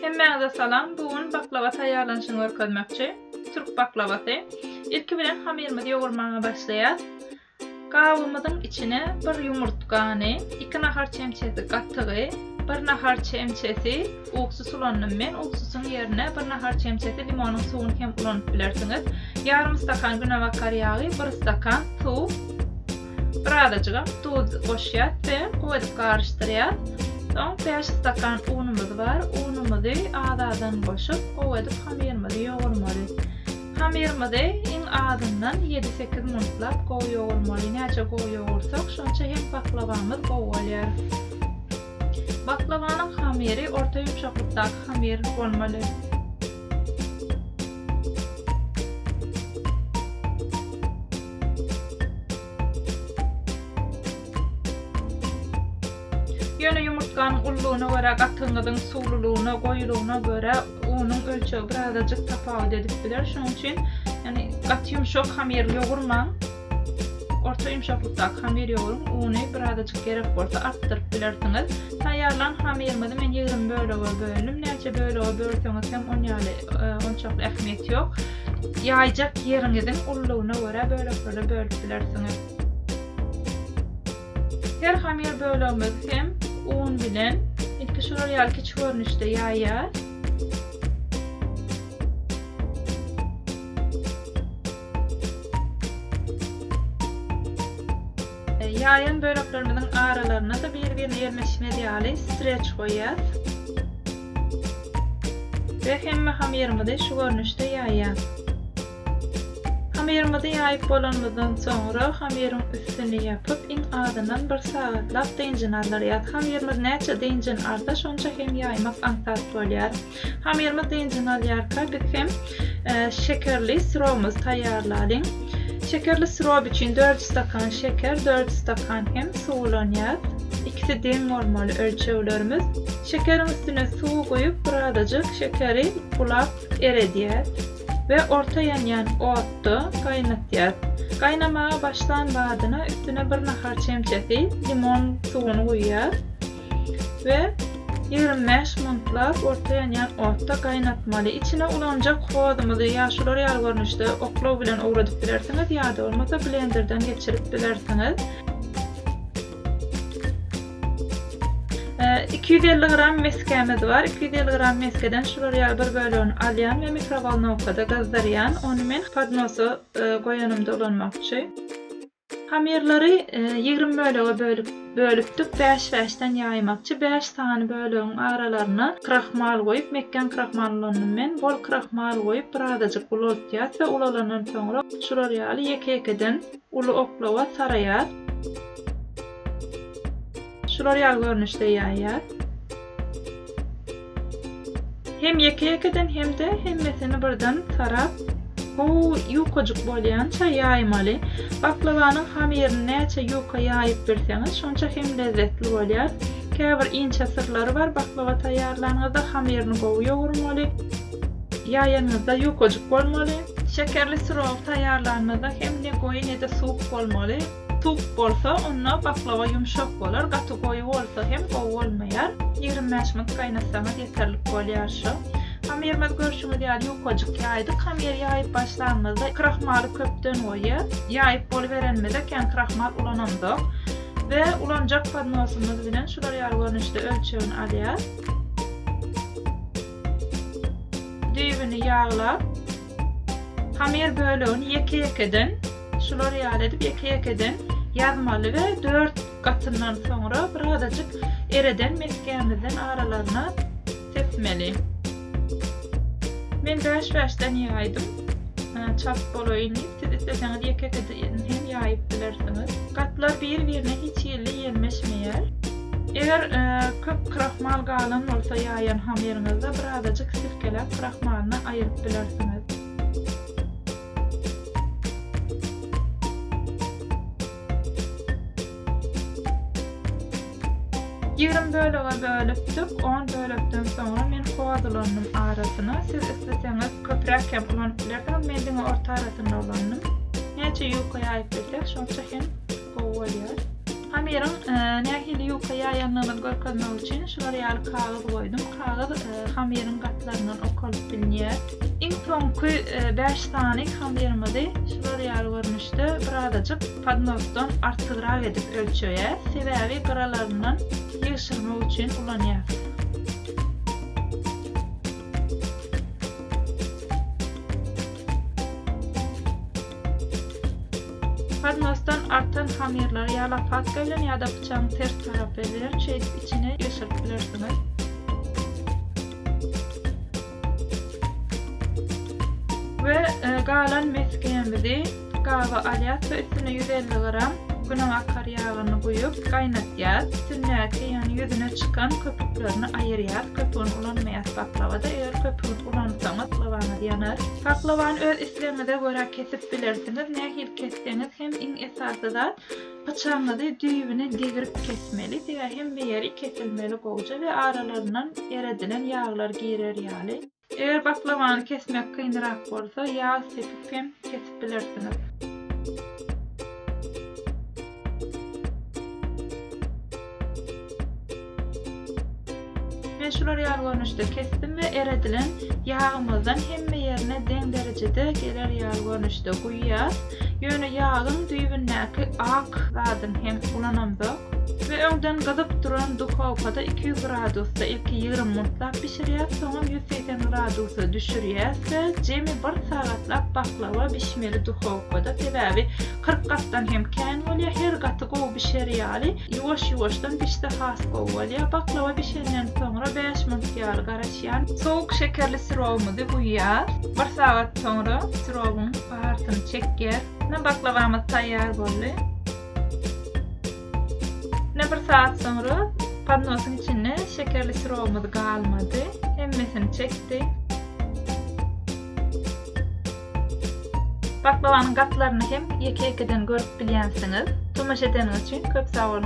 Hemmäňize salam, bu gün baklawa taýýarlanyşyny görkezmekçi. Türk baklawasy. Ilki bilen hamyrymyzy ýogurmaga başlaýas. Gabymyzyň içine bir ýumurtgany, iki nahar çemçesi gatygy, bir nahar çemçesi ugsus ulandym men. Ugsusyň ýerine bir nahar çemçesi limonyň suwuny hem ulanyp bilersiňiz. Ýarym stakan günebakar ýagy, bir stakan suw. Birazajygam duz goşýas we gowy edip garyşdyrýas. Soň bäş stakan unumyz bar. Unumyzy az-azdan goşup, gowy edip hamyrymyzy ýogurmaly. Hamyrymyzy iň azyndan ýedi-sekiz minutlap gowy ýogurmaly. Näçe gowy ýogursak, şonça hem baklawamyz gowy bolýar. Baklawanyň hamyry orta ýumşaklykdaky hamyr bolmaly. Ýöne ýumurtganyň ululygyna görä gatyňyzyň suwlulygyna, goýulygyna görä unuň ölçegi birazajyk tapawut edip biler. Şonuň üçin ýani gaty ýumşak hamyr ýogurmaň. Orta ýumşaklykdaky hamyr ýoguryň. Uny birazajyk gerek bolsa artdyryp bilersiňiz. Taýýarlan hamyrymyzy men ýigrimi bölege böldüm. Näçe bölege bölseňiz hem on ýaly onçakly ähmiýet ýok. Ýaýjak ýeriňiziň ululygyna görä böleklere bölüp bilersiňiz. Her hamyr bölegimizi hem un bilen ilki şular ýaly kiçi görnüşde ýaýýas. Ýaýan böleklerimiziň aralaryna-da bir-birine ýerleşmez ýaly streç goýýas. We hemme hamyrymyzy şu görnüşde ýaýýas. Hamyrymyzy ýaýyp bolanymyzdan soňra hamyryň üstüni ýapyp iň azyndan bir sagatlap dynjyny aldyrýas. Hamyrymyz näçe dynjyny alsa şonça hem ýaýmak aňsat bolýar. Hamyrymyz dynjyny alýarka biz hem şekerli syrobymyzy taýýarlalyň. Şekerli syrob üçin dört ýüz stakan şeker, dört ýüz stakan hem suw ulanýas. Ikisi deň bolmaly ölçeglerimiz. Şekeriň üstüne suwy guýup birazajyk şekeri bulap eredýäs we orta ýanýan otda gaýnatýas. Gaýnamaga başlan badyna üstüne bir nahar çemçesi limon suwuny guýýas we ýigrimi bäş minutlap orta ýanýan otda gaýnatmaly. Içine ulanjak hozumyzy ýa şular ýaly görnüşde oklaw bilen owradyp bilersiňiz ýa-da bolmasa blenderden geçirip bilersiňiz. 250 gram meskämiz bar. 250 gram meskeden şular ýaly bir bölegini alýan we mikrowolnowkada gyzdyrýan. Ony men podnosa e, goýanym dolanmakçy. Hamirleri 20 e, bölege bölüp bölüpdik. 5-5-den ýaýmakçy. 5 sany bölegiň aralaryna krahmal goýup, mekgen krahmal ulandym men. Bol krahmal goýup, birazajyk ulaltýas we ulalanan soňra şular ýaly ýeke-ýekeden Uly oklawa saraýar. Şular ýaly görnüşde ýaýýar. Hem ýeke-ýekeden hem-de hemmesini birden sarap, gowy ýukajyk bolýança ýaýmaly. Baklawanyň hamirini näçe ýuka ýaýyp bilseňiz, şonça hem lezzetli bolýar. Käbir inçe syrlary bar, baklawa taýýarlanyňyzda hamirini gowy ýogurmaly. Ýaýanyňyzda ýukajyk bolmaly. Şekerli syrogy taýýarlanmada hem ne goýy ne-de suwuk bolmaly. Suwuk bolsa onda baklawa ýumşak bolar, gaty goýy bolsa hem gowy bolmaýar. Ýigrimi bäş minut gaýnatsaňyz ýeterlik bolýar şu. Hamyrymyz görşüňiz ýaly ýukajyk ýaýdyk. Hamyry ýaýyp başlanymyzda krahmaly köpden goýy ýaýyp boluberenimizde kän krahmal ulanamzok we ulanjak podnosymyz bilen şular ýaly görnüşde ölçegini alýas. Düýbüni ýaglap, hamir bölegini ýeke-ýekeden, şular ýaly edip ýeke-ýekeden ýazmaly we dört gatyndan soňra birazajyk ereden mesgämizden aralaryna sepmeli. Men bäş-bäşden ýaýdym, çalt bolaýyn diýip, siz isleseňiz ýeke-ýekeden hem ýaýyp bilersiňiz. Gatlar bir-birine hiç hili ýelmeşmeýär. Eger köp krahmal galan bolsa ýaýan hamyryňyzda birazajyk sirkeläp krahmalyny aýyryp bilersiňiz. Ýigrimi bölege bölüpdik, on bölekden soňra men hoz ulannym arasyna, siz isleseňiz köpräk hem ulanyp bilersiňiz, men diňe orta arasynda ulandym. Näçe ýuka ýaýyp bilsek şonça hem gowy bolýar. Hamyryň nähili ýuka ýaýandygyny görkezmek üçin şular ýaly kagyz goýdum. Kagyz hamyryň gatlaryndan okalyp bilinýär. Iň soňky bäş sany hamyryňyzy şular ýaly görnüşde bir azajyk podnosdan artygrak edip ölçeýäs. Sebäbi gyralaryndan ýygşyrmak üçin ulanýas. Podnosdan artan hamyrlary ýa lopatka bilen ýa-da pyçagyň ters tarapy bilen şeýdip içine geçirip bilersiňiz. We galan mesgemizi gaba alýas we üstüne ýüz elli gram günebakar ýagyny guýup gaýnatýas. Üstündäki ýagny ýüzüne çykan köpüklerini aýyrýas. Köpügini ulanmaýas baklawada. Eger köpügini Ulansaňyz pylawaňyz ýanar. Paklawany öz islegiňize görä kesip bilersiňiz. Nähili kesseňiz hem iň esasy zat pyçagyňyzy düýbüne degrip kesmeli. Diňe hemme ýeri kesilmeli gowja we aralaryndan eredilen ýaglar girer ýaly. Eger paklawany kesmek kynrak bolsa ýag sepip hem kesip bilersiniz. şular ýaly görnüşde kesdim we eredilen ýagymyzdan hemme ýerine deň derejede geler ýaly görnüşde guýýas. Ýöne ýagyň düýbündäki ak zadyny hem ulanamda. We öňden gyzyp duran duhowkada iki ýüz gradusda ilki ýigrimi muntlap bişirýäs soňam ýüz segsen gradusa düşürýäs we jemi bir sagatlap baklawa bişmeli duhowkada sebäbi kyrk gatdan hem kän bolýa her gaty gowy bişer ýaly ýuwaş ýuwaşdan bişse has gowy bolýa baklawa bişenden soňra bäş munt ýaly garaşýan sowuk şekerli sirowymyzy guýýas bir sagat soňra sirowyň baharysyny çekýär baklawamyz taýýar boldy. Ine bir saat soňra podnosyň içinde şekerli sirobymyz galmady. Hemmesini çekdi. Baklawanyň gatlaryny hem ýeke-ýekeden görüp bilýänsiňiz. Tomaşa edeniňiz üçin köp sag boluň.